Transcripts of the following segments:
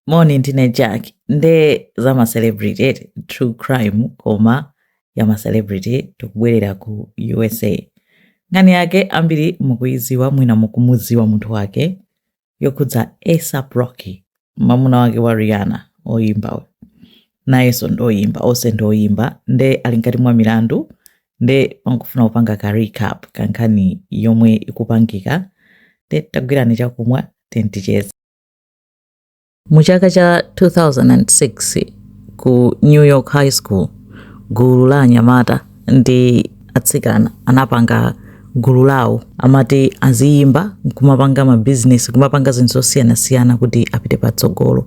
moni ndine jack nde za macelebrity eti true crime koma ya macelebrity tikubwerera ku usa nkhani yake ambiri mukuyiziwa mwina mukumuziwa munthu wake yokhudza asap rocky mamuna wake wa rihanna oyimba uyu nayenso ndoyimba onse ndoyimba nde ali mkati mwa milandu nde pangofuna kupanga ka recap kankhani yomwe ikupangika nde tagwirani chakumwa tizicheza Mu chaka cha 2006 ku New York High School, gulu la anyamata ndi atsikana anapanga gulu lawo amati aziyimba nkumapanga mabizinesi kumapanga zinthu zosiyanasiyana kuti apite patsogolo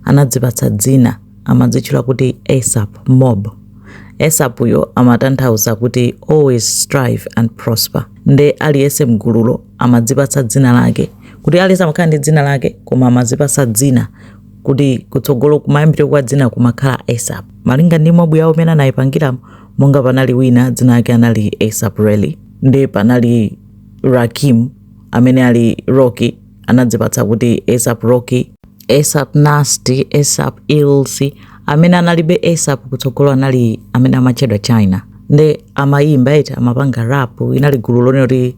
anadzipatsa dzina amadzitchula kuti asap mob asap yo amatanthauza kuti always strive and prosper nde aliyense mgululo amadzipatsa dzina lake kuti aliyense amakhala ndi dzina lake koma amazipasa dzina kuti kutsogolo kumayambire kwa dzina kumakhala asap malinga ndi mobu yawo imene anayipangira monga panali wina dzina lake anali asap reli nde panali rakim amene ali rocky anadzipatsa kuti asap rocky asap nasty asap ilsi amene analibe asap kutsogolo anali amene amatchedwa china nde amayimba eti amapanga rap inali gulu lonena kuti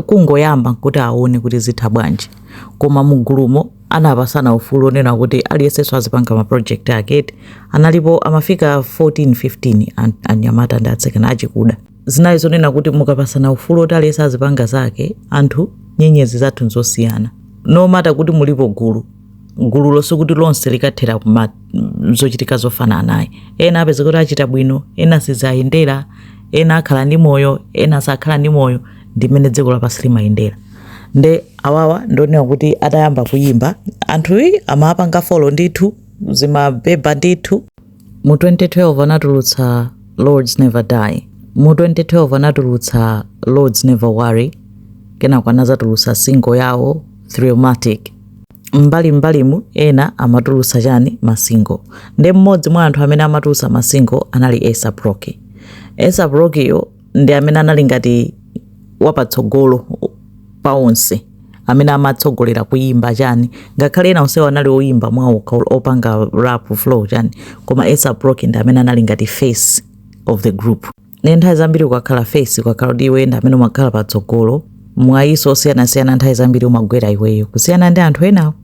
kungoyamba kuti aone kuti zitha bwanji koma mugulumo anapasana ufulu onena kuti aliyensenso azipanga ma project ake eti analipo amafika 14 15 an- anyamata ndi atsikana achikuda zinali zonena kuti mukapasana ufulu oti aliyense azipanga zake anthu nyenyezi zathu nzosiyana no matter kuti mulipo gulu gululo sikuti lonse likathera kuma zochitika zofananayi ena apeza kuti achita bwino ena sizayendera ena akhala ndi moyo ena sakhala ndi moyo ndimene dziko lapansi limayendera nde awawa ndonena kuti atayamba kuyimba anthuyi amapanga folo ndithu zimabeba ndithu Mu 2012 anatulutsa Lords Never Die. Mu 2012 anatulutsa Lords Never Worry. Kenako anazatulutsa single yawo Trillmatic. Mbali mbalimu ena amatulutsa chani masingo nde mmodzi mwa anthu amene amatulutsa masingo anali ASAP Rocky. ASAP Rocky yo ndi amene anali ngati wapatsogolo pa onse amene amatsogolera kuyimba chani ngakhale ena onsewo anali oyimba mwawo opanga rap flow chani koma ASAP Rocky ndi amene anali ngati face of the group nde nthawi zambiri ukakhala face ukakhala kuti iwe ndi amene umakhala patsogolo mwayiso osiyanasiyana nthawi zambiri umagwera iweyo kusiyana ndi anthu enawo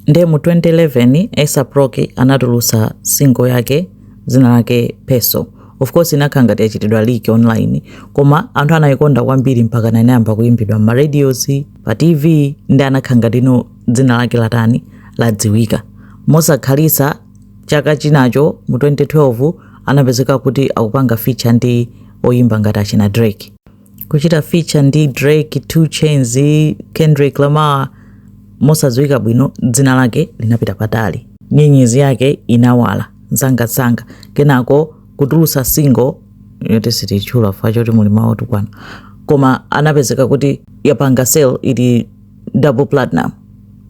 Nde mu 2011 ASAP Rocky anatulutsa single yake dzina lake Peso. Of course inakhala ngati yachitidwa leak online koma anthu anayikonda kwambiri mpaka inayamba kuyimbidwa m'ma radios, pa TV ndi anakhala ngati no dzina lake latani ladziwika. Mosakhalitsa chaka chinacho mu 2012 anapezeka kuti akupanga feature ndi oyimba ngati achina Drake. kuchita feature ndi drake 2 chainz kendrick lamar mosadziwika bwino dzina lake linapita patali nyenyezi yake inawala msangamsanga kenako kutulutsa single yoti sititchula chifukwa choti muli mawu otukwana koma anapezeka kuti yapanga sale ili double platinum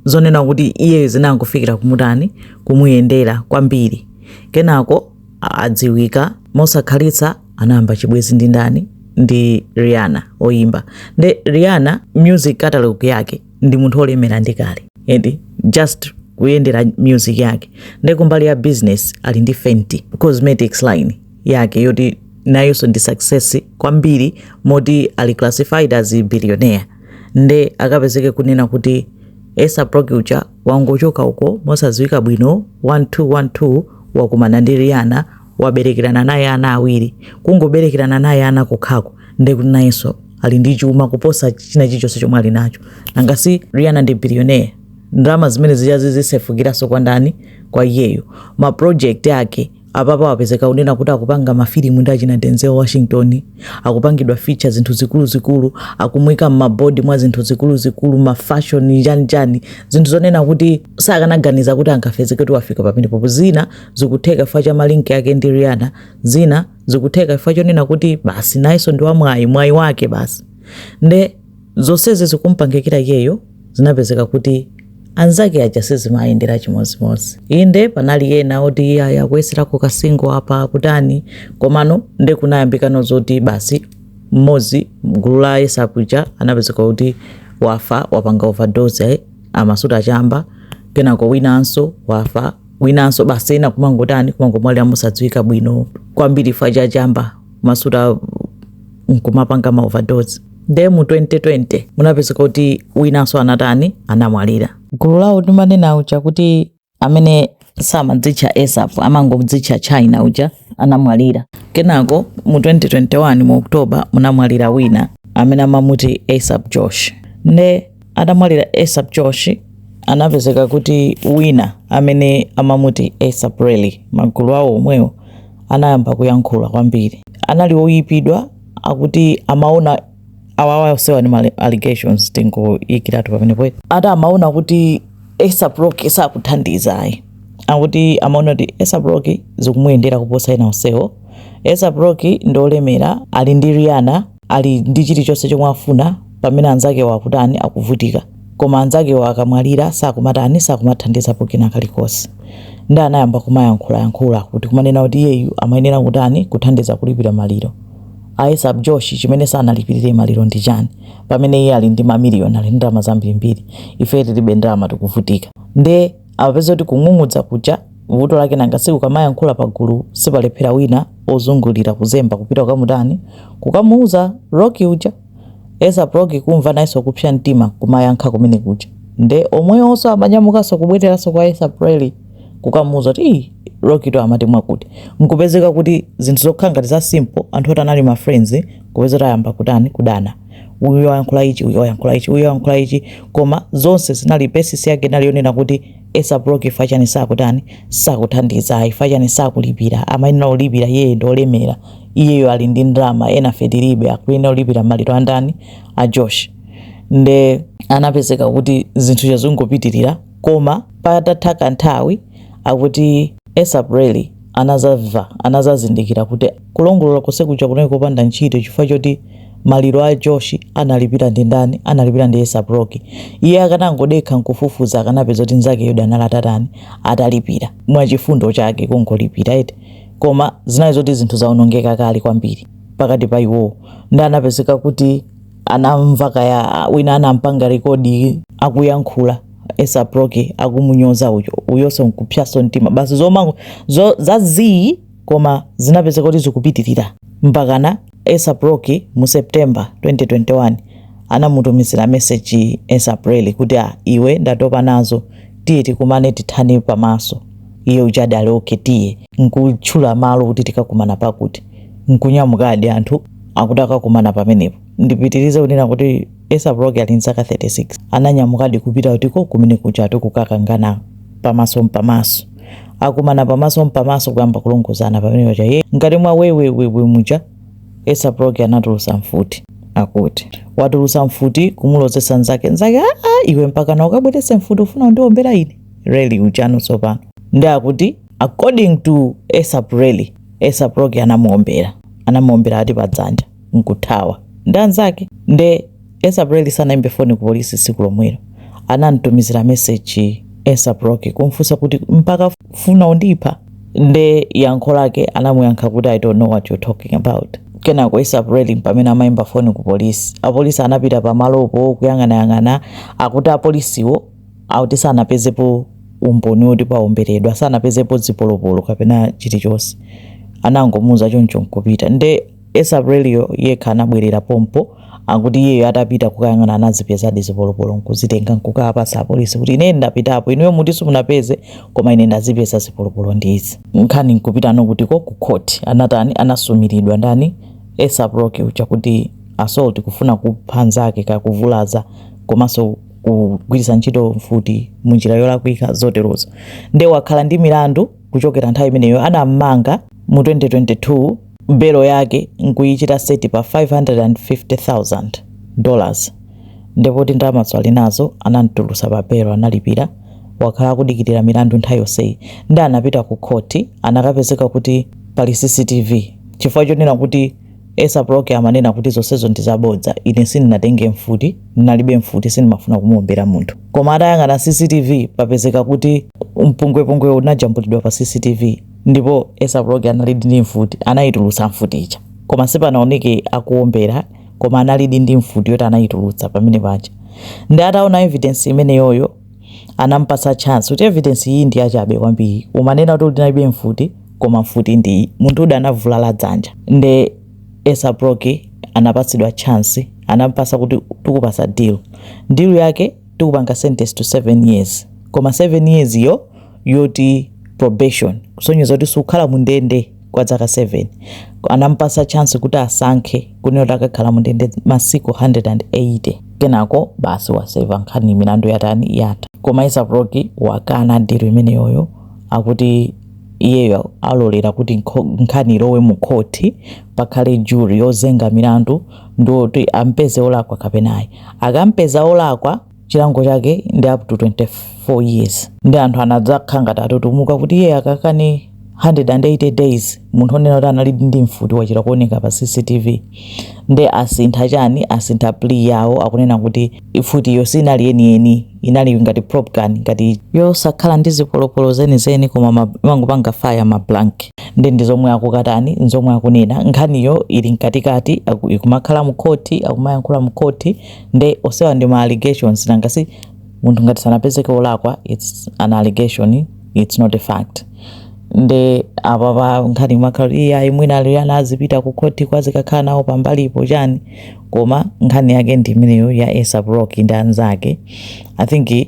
zonena kuti iye zinangofikira kumutani kumuyendera kwambiri kenako adziwika mosakhalitsa anayamba chibwenzi ndi ndani ndi rihanna oyimba nde rihanna music catalog yake ndi munthu olemera ndi kale and just kuyendera music yake nde kumbali ya business ali ndi fenty cosmetics line yake yoti nayonso ndi success kwambiri moti ali classified as a billionaire nde akapezeke kunena kuti asap rocky uja wangochoka uko mosadziwika bwino 1212 wakumana ndi rihanna waberekerana naye ana awiri kungoberekerana naye ana kokhako ndekuti nayenso ali ndi chuma kuposa china chilichonse chomwe ali nacho nanga si rihanna ndi billionaire ndalama zimene zijazo zisefukiranso kwa ndani kwa iyeyo ma project ake apapa wapezeka kunena kuti akupanga mafilimu ndi achina Denzel Washington akupangidwa feature zinthu zikuluzikulu akumuika mmabodi mwa zinthu zikuluzikulu mafashoni chanichani zinthu zonena kuti sakanaganiza kuti angapezeke kuti wafika pamenepapa zina zikutheka chifukwa cha malinki yake ndi Rihanna zina zikutheka chifukwa chonena kuti basi nayenso ndi wamwayi mwayi wake basi nde zonsezi zikumupangikira iyeyo zinapezeka kuti anzake aja sizimawayendera chimodzimodzi inde panali ena oti eya akuyeserako kasingo apa kutani komano nde kunayambikano zoti basi mmodzi mgulu la asap uja anapezeka kuti wafa wapanga overdose ayi amasuta achamba kenako winanso wafa winanso basi ena kumangotani kumangomwalira mosadziwika bwino kwambiri chifukwa cha chamba amasuta nkumapanga ma overdose nde mu 2020 munapezeka kuti winanso anatani anamwalira gulu lawo ndimanena uja kuti amene samadzitcha asap amangodzitcha chynna uja anamwalira kenako mu 2021 mu oktoba munamwalira wina amene amamuti asap josh nde atamwalira asap josh anapezeka kuti wina amene amamuti asap relli m'magulu awo omwewo anayamba kuyankhula kwambiri anali oyipidwa akuti amaona awawa osewa ni ma allegations tingoikiratu pamenepo ati amaona kuti ASAP Rocky sakuthandiza ayi akuti amaona kuti ASAP Rocky zikumuyendera kuposa ena onsewo ASAP Rocky ndi olemera ali ndi Rihanna ali ndi chilichonse chomwe afuna pamene anzake akutani akuvutika koma anzakewo akamwalira sakumatani sakumathandizapo kena kalikose nde anayamba kumayankhula yankhula kuti kumanena kuti iyeyu amayenera kutani kuthandiza kulipira maliro a ASAP Josh chimene sanalipirire maliro ndi chani pamene iye ali ndi mamiliyoni ali ndi ndalama zambirimbiri ife tilibe ndalama tikuvutika nde amapeza kuti kung'ung'udza kuja vuto lake nanga siku kamayankhula pagulu sipalephera wina ozungulira kuzemba kupita kukamutani kukamuuza Rocky uja ASAP Rocky kumva nayeso kupsa mtima kumayankha kumene kuja nde omwewoso amanyamukaso kubwereranso kwa ASAP Relli kukamuuza kuti ii Rockytu amati mwakuti nkupezeka kuti zinthu zokhala ngati za simple anthu oti anali ma friends kupezeka kuti ayamba kutani kudana uyu wayankhula ichi uyu wayankhula ichi uyu wayankhula ichi koma zonse zinali basis yake inali yonena kuti ASAP Rocky ifa chani sakutani sakuthandiza ayi ifa chani sakulipira amayenera kulipira iyeyo ndi olemera iyeyo ali ndi ndalama enafe tilibe akuyenera kulipira maliro andani a josh nde anapezeka kuti zinthu zazingopitirira koma patatha kanthawi akuti ASAP Relli anadzamva, anadzazindikira kuti kulongolola konse kuja kunali kopanda ntchito chifukwa choti maliro a Josh analipira ndi ndani? Analipira ndi ASAP Rocky. Iye akanangodekha nkufufuza akanapeza kuti mnzake uja anali atatani? Atalipira. Mwachifundo chake kungolipira eti. Koma zinali zoti zinthu zaonongeka kale kwambiri pakati pa iwowo. Nde anapezeka kuti anamva kaya wina anampanga rekodi akuyankhula ASAP Rocky akumunyoza uyo uyonso nkupsanso mtima basi zomangoza zii koma zinapezeka kuti zikupitirira mpakana ASAP Rocky mu september 2021 anamutumizira meseji ASAP Relli kuti a ah, iwe ndatopa nazo tiye tikumane tithane pamaso iye ujadi ali okay tiye nkutchula malo kuti tikakumane pakuti nkunyamukadi anthu akuti akakumane pamenepo Ndipitirize kunena kuti ASAP Rocky ali nzaka 36 ananyamukadi kupita kutiko kumene kujatu kukakangana pamaso mpamaso. Akumana pamaso mpamaso kuyamba kulongozana pamene paja ye ngati mwa wewewewe muja ASAP Rocky anatulusa mfuti akuti watulusa mfuti kumulozesa nzake nzake aa iwe mpakana ukabwerese mfuti ufuna undiombere ine Relli ujano tsopano nde akuti according to ASAP Relli ASAP Rocky anamuombera anamuombera ati padzanja nkuthawa ndi anzake nde ASAP Relli sanaimbe foni ku polisi tsiku lomwelo anamtumizila message ASAP Rocky kumfunsa kuti mpaka funa undipha nde yankho lake anamuyankha kuti I don't know what you're talking about kenako ASAP Relli mpamene amaimba foni ku polisi apolisi anapita pamalopo kuyang'anayang'ana akuti apolisiwo akuti sanapezepo umboni woti paomberedwa sanapezepo zipolopolo kapena chilichonse anangomuuza choncho nkupita nde ASAP Relli yekha anabwerera pompo, akuti iyeyo atapita kukayang'ana anazipezadi zipolopolo n'kuzitenga n'kukawapatsa apolisi kuti, Ine ndapitapo, inuyo muti simunapeze, koma ine ndazipeza zipolopolo ndi izi. Nkhani n'kupitano kuti? Ku court. Anatani? Anasumiridwa. Ndani? ASAP Rocky uja, kuti assault, kufuna kupha mnzake, kaya kuvulaza, komanso kugwiritsa ntchito mfuti mu njira yolakwika, zoterozo. Ndiye wakhala ndi milandu kuchokera nthawi imeneyo. Anam'manga mu 2022. belo yake n'kuichita seti pa 550,000 dollars nde poti ndalamazo ali nazo anam'tulusa pa belo analipira wakhala akudikilira milandu nthawi yonseyi nde anapita ku khoti anakapezeka kuti pali CCTV chifukwa chonena kuti ASAP Rocky amanena kuti zonsezo ndi zabodza ine sindinatenge mfuti ndinalibe mfuti sindimafuna kumuombera munthu koma atayang'ana CCTV papezeka kuti mpungwepungwewo unajambulidwa pa CCTV Ndipo ASAP Rocky analidi ndi mfuti, anayitulutsa mfuti ija. Koma sipanaoneke akuombera, koma analidi ndi mfuti yoti anayitulutsa pamene paja. Nde ataona evidence imeneyoyo anampatsa chance kuti evidence iyi ndi yachabe kwambiri. Umanena kuti unalibe mfuti, koma mfuti ndi iyi. Munthu uja anavulala dzanja. Nde ASAP Rocky anapatsidwa chance, anampatsa kuti tikupatsa deal. Deal yake tikupanga sentence to 7 years. Koma 7 years yo yoti probation kusonyeza kuti sukhala mu ndende kwa dzaka 7 anampasa chance kuti asankhe kunena kuti akakhala mu ndende masiku 180 kenako basi waseva nkhani milandu yatani yata koma ASAP Rocky wakana deal imeneyoyo akuti iyeyo alolera kuti nkhani ilowe mu khoti pakhale jury yozenga milandu nde oti ampeze olakwa kapenayi akampeza olakwa chilango chake ndi up to 24 years nde anthu anadzakhala ngati atutumuka kuti iye akakane 180 days munthu onena kuti anali ndi mfuti wachita kuoneka pa cctv nde asintha chani asintha plea yawo akunena kuti mfutiyo sinali yeniyeni inali ngati prop gun ngati yosakhala ndi zipolopolo zenizeni koma imangopanga fire ma blank ndi ndi zomwe akukatani nzomwe akunena nkhaniyo ili mkatikati ikumakhala mkhoti akumayankhula mkhoti nde onsewa ndi ma allegations nanga si munthu ngati sanapezeke olakwa it's an allegation it's not a fact nde apapa nkhani imakhala iyayi mwina Rihanna azipita ku khoti kuti azikakhala nawo pambalipo chani koma nkhani yake ndi imeneyo ya ASAP Rocky ndi anzake i think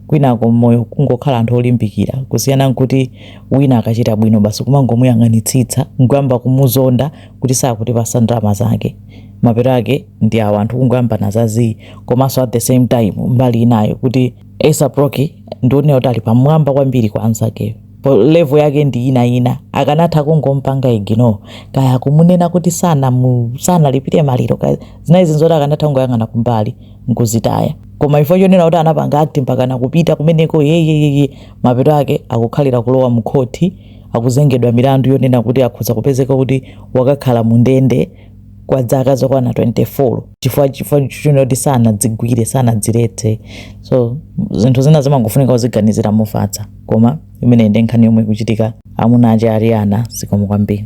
kwinako moyo kungokhala anthu olimbikira kusiyana nkuti wina akachita bwino basi kumangomuyang'anitsitsa nkuyamba kumuzonda kuti sakutipatsa ndalama zake mapeto ake ndi awa anthu kungoyambana za zii komanso at the same time mbali inayo kuti ASAP Rocky ndionera kuti ali pamwamba kwambiri kwa anzakeyo Po- level yake ndi ina ina akanatha kungompanga ignore kaya kumunena kuti sanamu, sanalipite maliro kaya zinazi ndi zoti akanatha kungoyang'ana kumbali nkuzitaya koma ifukwa chonena kuti anapanga act mpakana kupita kumeneko yeyeyeye mapeto ake akukhalira kulowa mkhoti akuzengedwa milandu yonena kuti akhoza kupezeka kuti wakakhala mu ndende kwa dzaka zokwana 24 chifukwa chifukwa chonena kuti sanadzigwire sanadziletse so zinthu zina zimangofunika kuziganizira mofatsa koma imeneyi ndi nkhani yomwe ikuchitika amuna ake a Rihanna zikomo kwambiri